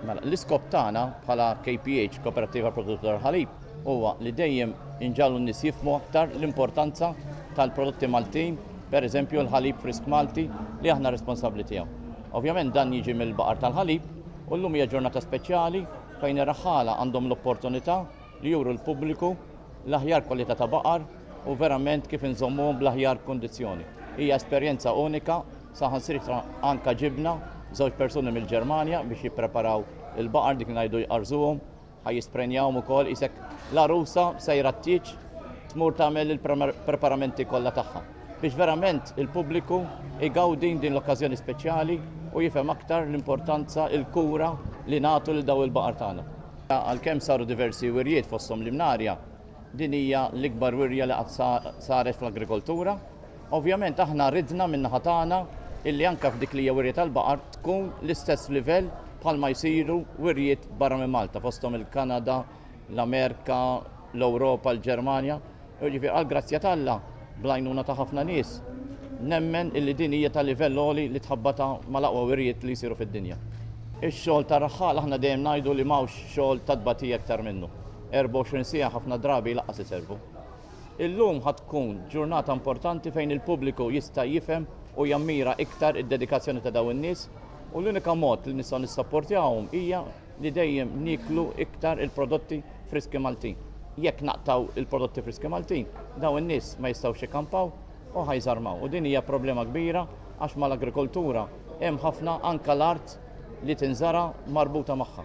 Mela, l-iskop tagħna bħala KPH, Koperattiva Produttur tal-Ħalib, huwa li dejjem inġagħlu n-nies jifhmu aktar l-importanza tal-prodotti Maltin, pereżempju l-ħalib frisk Malti li aħna responsabbli tiegħu. Ovvjament dan jiġi mill-baqar tal-ħalib u llum hija ġurnata speċjali fejn ir-raħħala għandhom l-opportunità li juru l-pubbliku l-aħjar kwalità ta' baqar u verament kif inżommuhom bl-aħjar kundizzjoni. Hija esperjenza unika Saħansitra anke ġibna żewġ persuni mill-Ġermanja biex jippreparaw il-baqar dik li ngħidu jqarrżuhom, ħa jisprenjawhom ukoll qisek l-għarusa sejra t-tieġ tmur tagħmel il-preparamenti kollha tagħha biex verament il-pubbliku jgawdi din l-okkażjoni speċjali u jifhem aktar l-importanza, il-kura li nagħtu lil dawn il-baqar tagħna. Għalkemm saru diversi wirjiet fosthom l-imnarja, din hija l-ikbar wirja li qatt saret fl-agrikoltura. Ovvjament aħna ridna min-naħa tagħna illi anke f'dik li hija wirja tal-baqar tkun l-istess livell bħalma jsiru wirjiet barra minn Malta fosthom il-Kanada, l-Amerika, l-Ewropa, l-Ġermanja. Jiġifieri għall-grazzja t'Alla, bl-għajnuna ta' ħafna nies, nemmen illi din hija ta' livell għoli li tħabbatha mal-aqwa wirjiet li jsiru fid-dinja. Ix-xogħol tar-raħħal aħna dejjem ngħidu li m'hawnx xogħol ta' tbatija iktar minnu. 24 siegħa ħafna drabi jlaqqas iservu. Illum ħa tkun ġurnata importanti fejn il-pubbliku jista' jifhem u jammira iktar id-dedikazzjoni ta' dawn in-nies u l-unika mod li nistgħu nissapportjawhom hija li dejjem nieklu iktar il-prodotti friski Maltin. Jekk naqtgħu l-prodotti friski Maltin, dawn in-nies ma jistgħux ikkampaw u ħa jżarmaw u din hija problema kbira għax mal-agrikoltura hemm ħafna anke l-art li tinżara' marbuta magħha.